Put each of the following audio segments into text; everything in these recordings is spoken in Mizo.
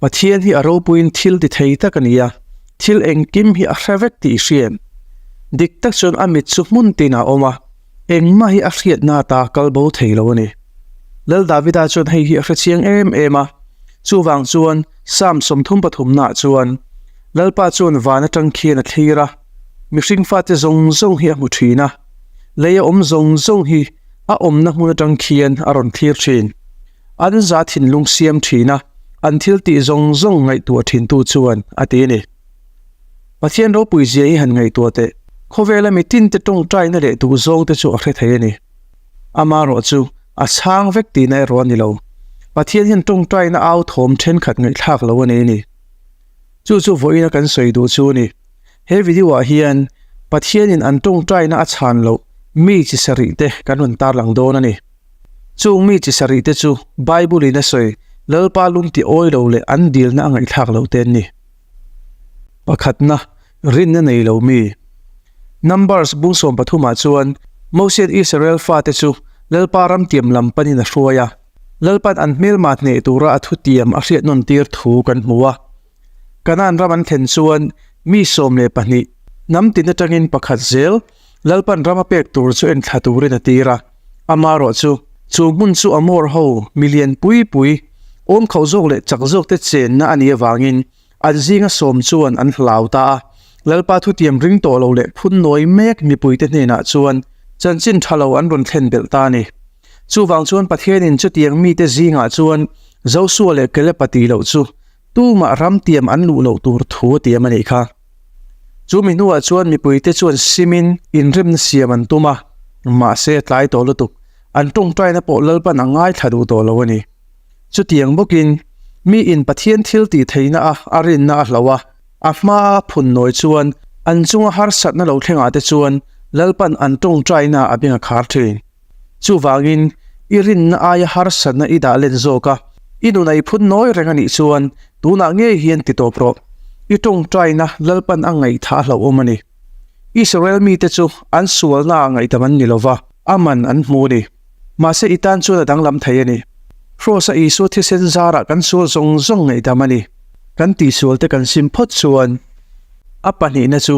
Pathian hi a ropuiin thil ti thei tak a ni a, thil engkim hi a hre vek tih hriat. Dik tak chuan a mit chu hmun tinah a awm a, engmah hi a hriatna ata a kal bo thei lo a ni. Lal Davida chuan hei hi a hrechiang em em a, chuvang chuan Salm sawmthum pathumnaah chuan, Lalpa chuan van atang khian a thlir a, mihring fate zawng zawng hi a hmu thin a, lei a awm zawng zawng hi a awmna hmun atang khian a rawn thlir thin. An za thinlung siam thina an thiltih zawng zawng ngaihtuah thintu chuan a ti a ni. Pathian ropui zia hi han ngaihtuah teh, khawvela mi tinte tawngtaina leh duhzawngte chu a hre thei a ni. Ama erawh chu a chhang vek tihna erawh a ni lo. Pathian hian tawngtaina authawm thenkhat ngaihthlak lo a nei a ni. Chu chu vawiina kan sawi duh chu ni. He video ah hian Pathianin an tawngtaina a chhan loh mi chi sarih te kan rawn tarlang dawn a ni. Chung mi chi sarih te chu Bible in a sawi Lalpa lung ti awi lo leh an dilna a ngaihthlak lo te an ni. Pakhatna, rinna nei lo mi. Numbers bung sawm pathum ah chuan Moses-in Israel fate chu Lalpa ram tiam lam panin a hruai a. Lalpan an hmelma hneh tura a thutiam a hriatnawn tir thu kan hmu a. Canaan ram an thlen chuan mi sawm leh pahnih hnam tin atangin pakhat zel Lalpan ram a pek tur chu en thla turin a tir a. Amarawh chu, chu hmun chu Amawrho mi lian pui pui, awm khauh zawk leh chak zawkte chenna a nih avangin, An zinga sawm chuan an hlau ta a, Lalpa thutiam ring tawh lo leh phun nawi mek mipuite hnenah chuan chanchin tha lo an rawn thlen belh ta a ni. Chuvang chuan Pathianin chutiang mite zingah chuan Joshua leh Caleb-a ti loh chu tumah ramtiam an luh loh tur thu a tiam a nih kha. Chu mi hnuah chuan mipuite chuan simin inremna siam an tum a, mahse tlai tawh lutuk an ṭawngṭaina pawh Lalpan a ngaithla duh tawh lo a ni. Chutiang bawkin, miin Pathian thil tih theihna-a a rinna a hlo a, a hmaa a phun nawi chuan an chunga harsatna lo thlengah te chuan Lalpan an tawngtaina a beng a khar thin. Chuvangin, i rinna aia harsatna i dah len zawk a, i nunei phun nawi reng a nih chuan tunah ngei hian ti tawp rawh. I tawngtaina Lalpan a ngaihthah a hlohawm a ni. Israel mite chu an sualnaah ngaihtam an ni lova, a man an hmu a ni. Mahse i tan chuan a danglam thei a ni. Hrose-a Isua thisen zarah kan sual zawng zawng ngaihdam a ni. Kan tihsual te kan sim phawt chuan a pahnihna chu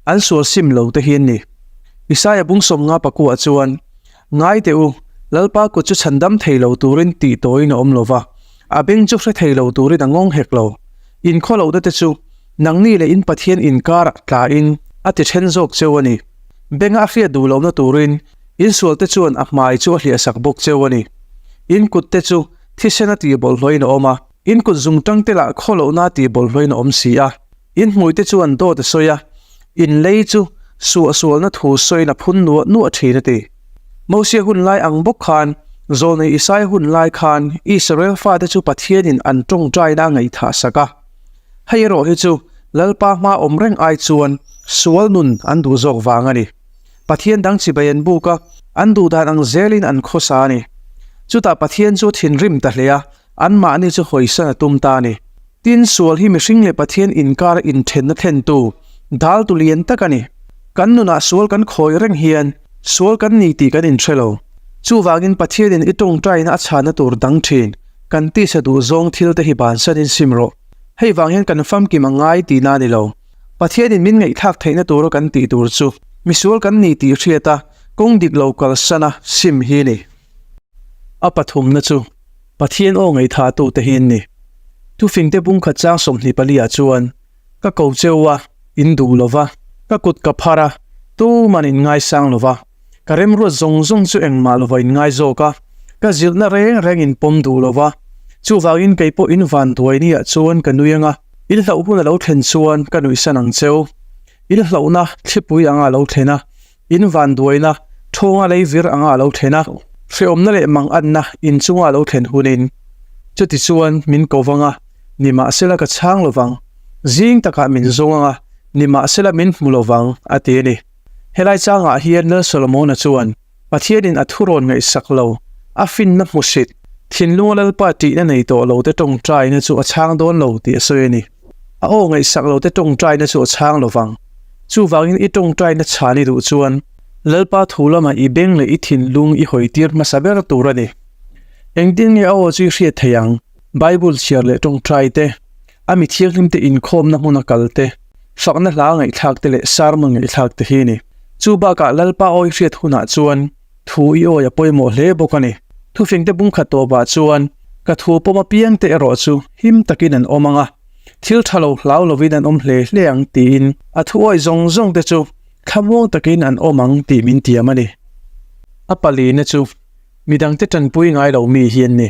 an sual sim lo te hi an ni. Isaiah bung sawm nga pakua chuan, Ngai teh u, Lalpa kut chu chhan dam thei lo turin tih tawhin a awm lo va, a beng chu hre thei lo turin a ngawng hek lo. Inkhaw lohna te chu nangni leh in Pathian inkarah tla in a ti then zawk cheu a ni. Benga a hriat duh lohna turin Insualte chuan a hmai chu a hliahsak bawk cheu a ni. Inkutte chu thisena tihbawlhhlawhin a awm a, inkut zungṭangte lah khaw lohna tihbawlhhlawhin a awm si a. Inhmuite chuan dawt a sawi a, inlei chu suahsualna thu sawina phun nuah nuah ṭhin a ti. Mosia hun lai ang bawk khan, zawlnei Isai hun lai khan Israel fate chu Pathianin an ṭawngṭaina a ngaihthah sak a. Hei erawh hi chu Lalpa hma awm reng ai chuan sual nun an duh zawk vang a ni. Pathian dang chibai an buk a, an duhdan ang zelin an khawsa a ni. Chutah Pathian chu a thinrim ta hle a, anmahni chu hawisa'n a tum ta a ni. Tin, sual hi mihring leh Pathian inkara inthenna thlentu daltu lian tak a ni. Kan nunah sual kan khawi reng hian sual kan ni tih kan inhre lo. Chuvangin Pathianin i tawngtaina a chhana tur dang thin kan tisa duh zawng thilte hi bansanin sim rawh. Hei vang hian kan famkim a ngai tihna a ni lo. Pathianin min ngaihthlak theihna tura kan tih tur chu misual kan ni tih hriat a kawng dik lo kalsana sim hi ni. A pathumna chu Pathian aw ngaithatu te hi'n ni. Thufingte pumkhat chang sawmhnih palia chuan ka ko cheu a, in duh lova, ka kut ka phar a, tuma'n in ngaisang lova. Ka remruat zawng zawng chu engmah lo va inngai zawk a, ka zirhna reng reng in pawm duh lo va. Chuvangin kei pawh in vanduai ni ah chuan ka nui anga il hloh hun a lo thlen chuan ka nuihsan ang cheu. Il hlohna thlipui anga a lo thlen a, in vanduaina thawnga lei vir anga a lo thlen a, hrehawmna leh mang anna in chunga a lo thlen hun in chuti chuan min ko vang a, ni mah se la ka chhang lo vang. Zing takah min zawng anga ni mah se la min hmu lo vang a ti a ni. Helai changah hian Lal Solomona chuan Pathianin a thu rawn ngaihsak lo, a finna hmu hrit, thinlunga Lalpa tihna nei tawh lo te tawngtaina chu a chhang dawn lo tih a sawi a ni. A aw ngaihsak lo te tawngtaina chu a chhang lovang. Chuvangin i tawngtaina chhan i duh chuan Lalpa thu lama i beng leh i thinlung i hawitir hmasa ber tur a ni. Engtin nge a aw chu i hriat theih ang? Bible chhiar leh tawngtai te, A mi thianghlimte inkhawmna hmuna kalte, fakna hla ngaihthlakte leh sarmun ngaihthlakte hi a ni. Chu bakah Lalpa awi hriat hunah chuan thu i awi a pawimawh hle bawk a ni. Thufengte bungkhat tawpah chuan ka thu pawm apiangte erawh chu him takin an awm ang a, thil tha lo hlau lovin an awm hle hle ang tiin a thu awi zawng zawngte chu thlamuang takin an awm ang tih min tiam a ni. A palina chu Midangte tanpui ngai lo mi hian ni.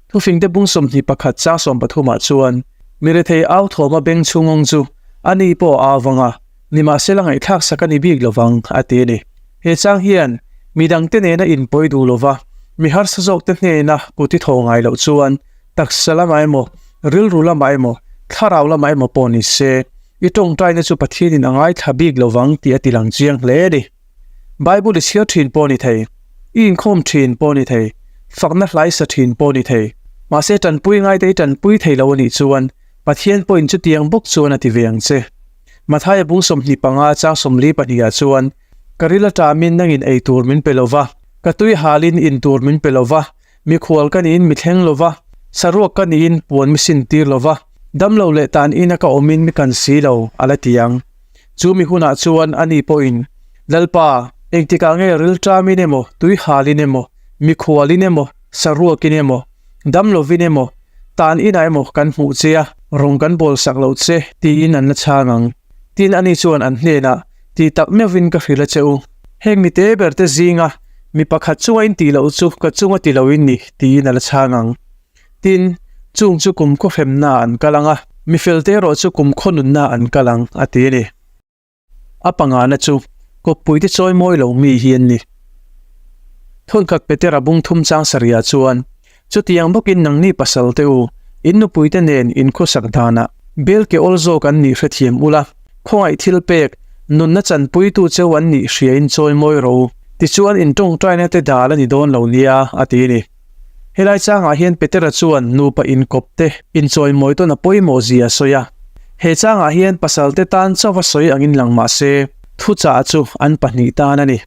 Thufingte bung sawmhnih pakhat chang sawm pathumah chuan Mirethei au thawma beng chhungawng chu a ni pawh a avang a, nimahse la ngaihthlak sak a ni bik lo vang, a ti a ni. He chang hian midangte nena inpawi duh lova mi harsa zawkte hnena kuti thaw ngai loh chuan taksa lama emaw, rilru lama emaw, thlarau lama emaw pawh nise, i tawngtaina chu Pathianin a ngaithla bik lo vang tih a tilang chiang hle a ni. Bible i chhiar thin pawh ni thei, i inkhawm thin pawh ni thei, fakna hlaisa thin pawh ni thei. Mahse, tanpui ngaite i tanpui thei lo a nih chuan Pathian pawhin chutiang bawk chuan a ti ve ang che. Matthai a bung sawmhnih panga a chang sawmli pahnihah chuan, Ka ril aṭamin nangin ei tur min pe lo va, ka tui halin in tur min pe lo va, Mi khual ka niin mi thleng lova, saruak ka niin puan mi sin tir lova, damlo leh tan ina ka awmin mi kan si lo, a la ti ang. Chu mi hunah chuan ani pawhin, Lalpa, engtikah nge rilṭamin emaw, tuihalin emaw, mi khualin emaw, saruakin emaw, dam lovin emaw, tan inah emaw kan hmuh che a, rawn kan bawlsak loh che, tiin an la chhang ang. Tin ani chuan an hnenah, Tih tak miovin ka hrilh a che u, heng mite berte zinga mi pakhat chunga in tih loh chu ka chunga ti lo in ni tiin a la chhang ang. Tin, chung chu kum khaw hremnaah an kal ang a, mi felte erawh chu kum khaw nunnaah an kal ang, a ti a ni. A pangahna chu kawppuite chawi mawi lo mi hi an ni. Thawnkhat Petera bungthum chang sarihah chuan Chutiang bawkin nangni pasalte u, in nupuite nen in khawsak danah bel kehawl zawk an nih hre thiam ula, khawngaih thil pek, nunna chanpuitu cheu an nih hria in chawi mawi rawh u, tichuan in tawngtaina te dal a ni dawn lo nia, a ti ni. Helai changah hian Petera chuan nupa inkawp te inchawi mawi tawn a pawimawh zia a sawi a. He changah hian pasalte tan chauh a sawi angin lang mahse, thuchah chu an pahnih tan a ni.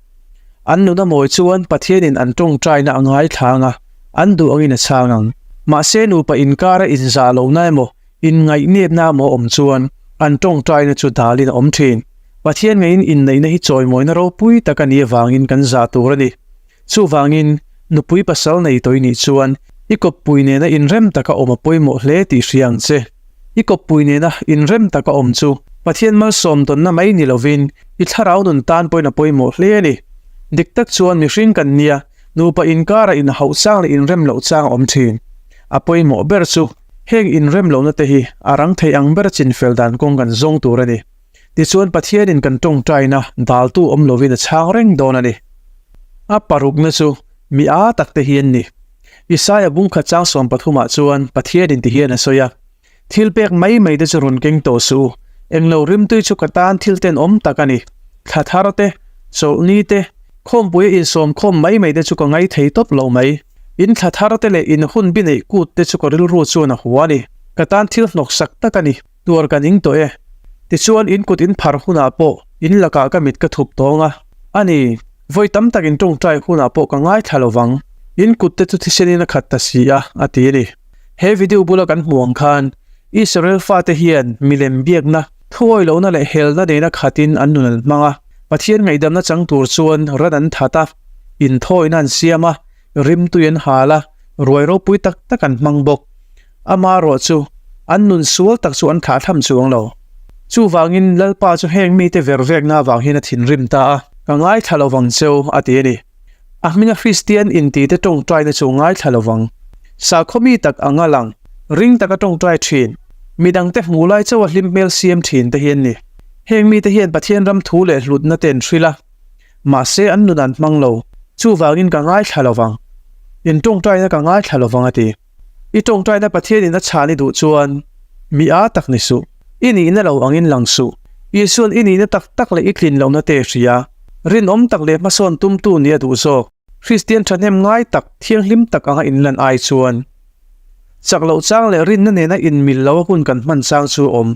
An nuna mawi chuan Pathianin an ṭawngṭaina a ngaithlang a, an duh angin a chhang ang. Mahse, nupa inkara inzah lohna emaw, inngaihhnepna emaw awm chuan an ṭawngṭaina chu dalin a awm ṭhin. Pathian ngeiin inneihna hi chawimawina ropui tak a nih avangin kan zah tur a ni. Chuvangin, nupui pasal nei tawih nih chuan i kawppui nena inrem taka awm a pawimawh hle tih hria ang che. I kawppui nena inrem taka awm chu Pathian malsawm tawnna mai ni lovin i thlarau nun tan pawhin a pawimawh hle a ni. Dik tak chuan mihring kan nia, nupa inkara inhauh chang leh inrem loh chang a awm thin. A pawimawh ber chu heng inrem lohna te hi a rang thei ang bera chinfel dan kawng kan zawng tur a ni. Tichuan Pathianin kan tawngtaina daltu awm lovin a chhang reng dawn a ni. A parukna chu mi aa takte hian ni. Isaiah bung khat chang sawm pathumah chuan Pathianin ti hian a sawi a, Thil pek mai mai te chu rawn keng tawh suh u, englo rimtui chu ka tan thil ten awm tak a ni. Thla thar te, chawlh ni te, khawmpuia insawm khawm mai mai te chu ka ngai thei tawp lo mai. In thla thar te leh in hun bineih kut te chu ka rilru chuan a hua a ni. Ka tan thil hnawk sak tak a ni. Tuar kan ingtawh e. Tichuan in kut in phar hunah pawh in lakah ka mit ka thup tawng a. A ni, vawi tam tak in tawngtai hunah pawh ka ngaithla lo vang. In kut te chu thisenin a khat ta si a, a ti a ni. He video bula kan hmuh ang khan Israel fate hian milem biakna, thuawi lohna leh helna neina khatin an nun an hmang a. Pathian ngaihdamna chang tur chuan ran an that a, inthawina an siam a, rimtui an hal a, ruai ropui tak tak an hmang bawk. Ama erawh chu an nun sual tak chu an thlahthlam chuang lo. Chuvangin Lalpa chu heng mite ver vek na vang hian a thinrim ta a, ka ngaithla lo vang che u a ti a ni. A hming a Hristian intite tawngtaina chu ngaithla lo vang. Sakhaw mi tak a ngal ang, ring taka tawngtai thin, midangte hmuh lai chauha hlim hmel siam thin te hi an ni. Heng mite hian Pathian ram thu leh hlutna te an hrilh a, mahse an nun an hmang lo. Chuvangin ka ngaithla lo vang. In tawngtaina ka ngaithla lo vang a ti. I tawngtaina Pathianin a chhan i duh chuan mi a tak ni suh, i nihna lo angin lang suh. Isuan i nihna tak tak leh i tlin lohna te hria, rinawm tak leh hmasawn tumtu nia duh zawk. Kristian thahnem ngai tak, thianghlim tak anga inlan ai chuan chak loh chang leh rinna nena inmil loh a hun kan hman chang chu a awm.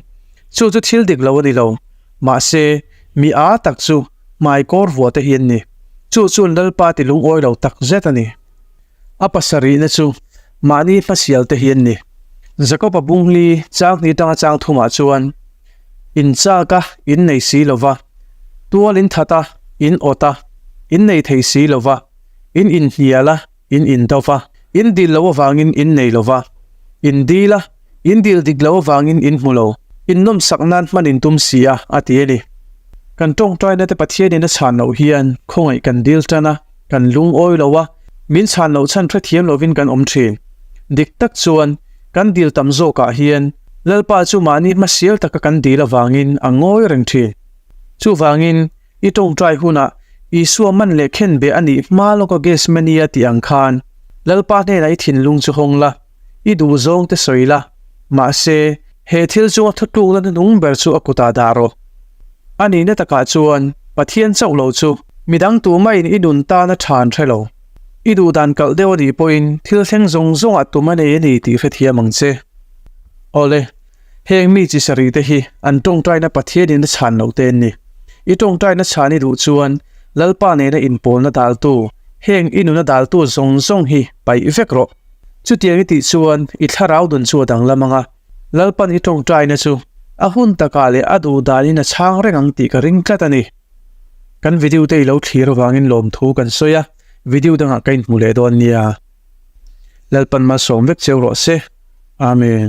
Chu chu thil dik lo a ni lo. Mahse, mi a tak chu hmai kawr vuahte hi an ni. Chu chun Lalpa ti lungawi lo tak zet a ni. A pasarihna chu mahni hmasialte hi an ni. Jakob a bunghli changni tanga chang thumah chuan, In chak a, in nei si lo va, tual in that a, in awt a, in nei thei si lo va, in inhnial a, in indawp a, in dil lo avangin in nei lo va, in dil a, in dil dik lo avangin in hmu lo, in nawmsak nan hman in tum si a, a ti a ni. Kan tawngtainate Pathianin a chhan loh hian khawngaih kan dil tan a. Kan lungawi lo a, min chhan loh chhan hrethiam lovin kan awm thin. Dik tak chuan kan dil tam zawkah hian Lalpa chu mahni hmasial taka kan dil avangin a ngawi reng thin. Chuvangin i tawngtai hunah Isua man leh khenbeh a nih hma lawka Gethsemania tih ang khan Lalpa hnenah i thinlung chu hawng la. I duh zawng te sawi la, mahse, he thil chunga thutluk lana nung ber chu a kutah dah rawh. A nihna takah chuan Pathian chauh lo chu midang tumain i nun tan a ṭhan hre lo. I duhdan kalh deuh a nih pawhin thil thleng zawng zawngah tum a nei a ni tih hrethiam ang che. Awle, heng mi chi sarih te hi an ṭawngṭaina Pathianin a chhan lo te an ni. I ṭawngṭaina chhan i duh chuan Lalpa nena inpawlna daltu, heng i nuna daltu zawng zawng hi paih vek rawh. Chutiang i tih chuan i thlarau nun chu a dang lam ang a, Lalpan i tawngtaina chu a hun takah leh a duh danin a chhang reng ang tih ka ring tlat a ni. Kan video te i lo thlir avangin lawmthu kan sawi a, video dangah ka inhmu leh dawn nia. Lalpan malsawm vek cheu rawh se. Amen.